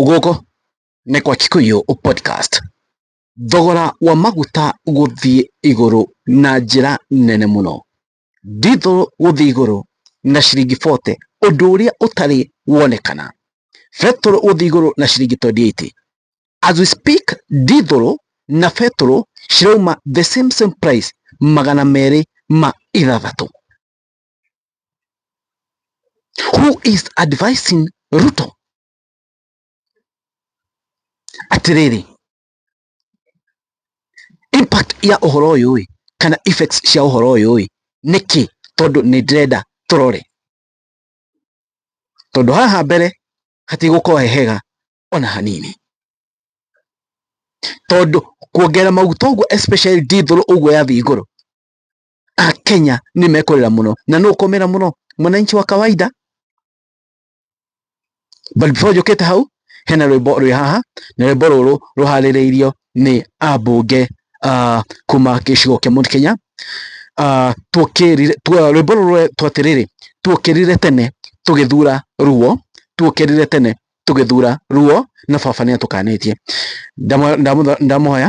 Gũkũ nĩ kwa Kikuyu Podcast. Thogora wa maguta gũthiĩ igũrũ na njĩra nene mũno. Ndithũrũ gũthiĩ igũrũ na ciringi bote ũndũ ũrĩa ũtarĩ wonekana. Betũrũ gũthiĩ igũrũ na ciringi twendi ĩiti. As we speak ndithũrũ na betũrũ cirauma the same same price magana merĩ ma ithathatũ. who is advising Ruto? Atiriri, impact ya uhoro uyu ĩ kana effects cia uhoro uyu ĩ niki tondu ni ndirenda turore tondu haha mbere hatigũkorwo he hega ona hanini tondu kuongerera maguta uguo especially diesel uguo yathii iguru a Kenya nĩ mekũrĩra mũno na nũ ũkũmĩra mũno mwananchi wa kawaida but before njũkĩte hau hena rwĩmbo rwĩ haha na rwĩmbo rũrũ rũharĩrĩirio nĩ ambunge uh, kuma gĩcigo kĩa Mount Kenya uh, tuokĩrire tu, rwĩmbo rũrũ twatĩrĩrĩ tuokĩrire tene tũgĩthura ruo tuokĩrire tene tũgĩthura ruo na baba nĩ atũkanĩtie ndamuhoya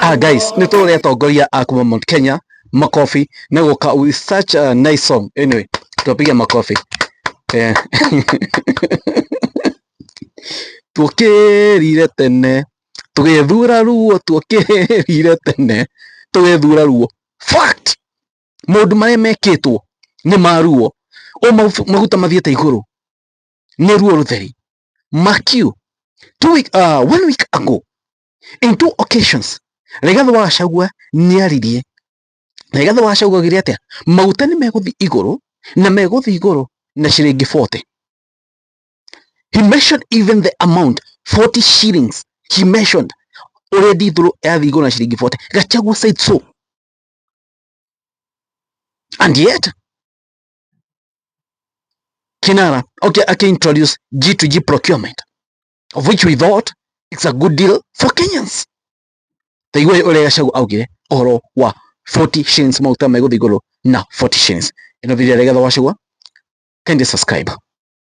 Ah, guys, nä tå rä atongoria a kuma Mount Kenya makobi na gå ka with such a nice song. Anyway, twapiga makobi eh. tuokirire tene tugethura ruo tuokirire tene tugethura ruo fact maundu maria mekitwo ni maruo o maguta mathiete iguru nĩruo rũtheri mark you two week, uh, one week ago in two occasions Rigathi wa Gachagua nĩaririe na Rigathi wa Gachagua augire atĩa maguta nĩ megũthiĩ igũrũ na megũthiĩ igũrũ na ciringi 40 he mentioned even the amount 40 shillings he mentioned ũrĩa ndithũrũ yathiĩ igũrũ na ciringi 40 Gachagua said so and yet Kinara, okay, I can introduce G2G procurement, of which we thought it's a good deal for Kenyans. Taigua ũrĩa Gachagua augire ũhoro wa 40 shillings maguta megũthiĩ igũrũ na 40 shillings. Ĩno video ya Rigathi wa Gachagua, kindly subscribe.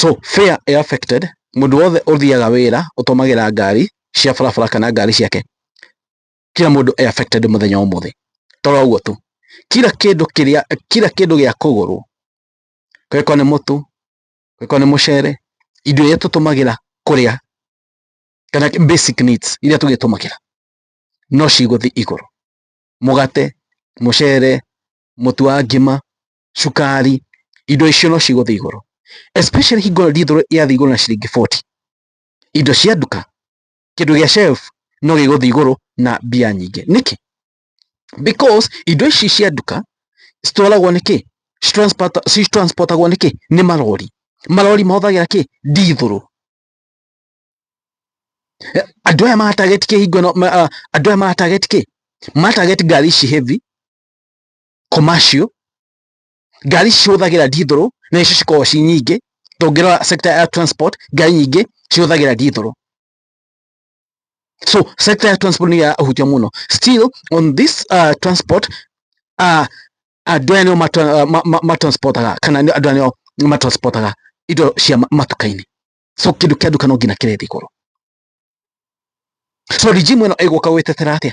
So fare ĩ affected, mũndũ wothe ũthiaga wĩra ũtũmagĩra ngari cia barabara kana ngari ciake, kira mũndũ e affected mũthenya wa ũmũthĩ. To ũguo tu, kira kĩndũ kĩrĩa, kira kĩndũ gĩa kũgũrwo, angĩkorwo nĩ mũtu, angĩkorwo nĩ mũcere, indo iria tũtũmagĩra kũrĩa, kana basic needs iria tũrĩtũmagĩra, no cigũthiĩ igũrũ. Mũgate, mũcere, mũtu wa ngima, cukari, indo icio no cigũthiĩ igũrũ especially hingo ndithũrũ yathiĩ igũrũ na ciringi 40 indo cia nduka kĩndũ gĩa shelf no gĩgũthiĩ igũrũ na mbia nyingĩ nĩkĩ? because indo ici cia nduka citwaragwo nĩ kĩ? citransportagwo nĩ kĩ? nĩ marori marori mahũthagĩra kĩ? ndithũrũ andũ aya matarget kĩ hingo ĩno andũ aya matarget kĩ? matarget ngari ici heavy commercial, ngari cihũthagĩra ndithũrũ na nĩcio cikoragwo ci nyingĩ, tũngĩrora sector ya transport ngari nyingĩ cihũthagĩra ndithũrũ. So sector ya transport nĩyo ĩrahutio mũno. Still on this uh, transport uh, andũ aya nĩo matransportaga uh, kana andũ aya nĩo matransportaga indo cia matuka-inĩ. So kĩndũ kĩa nduka no nginya kĩrĩthi goro. So regime ĩno ĩgũka gwĩtetera atĩa?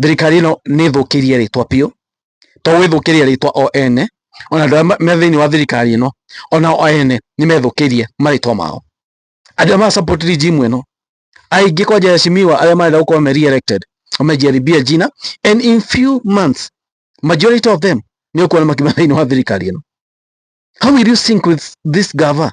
thirikari ĩno nĩ ĩthũkĩirie rĩtwa biũ to gwĩthũkĩria rĩtwa o ene ona andũ arĩa me thĩinĩ wa thirikari ĩno ona o ene nĩ methũkĩirie marĩtwa mao andũ arĩa ma support regime ĩno aingĩ kwa njĩra cimiwa arĩa marenda gũkorwo me re-elected wamejaribia jina and in few months majority of them nĩ ũkuona makiuma thĩinĩ wa thirikari ĩno how will you sync with this gava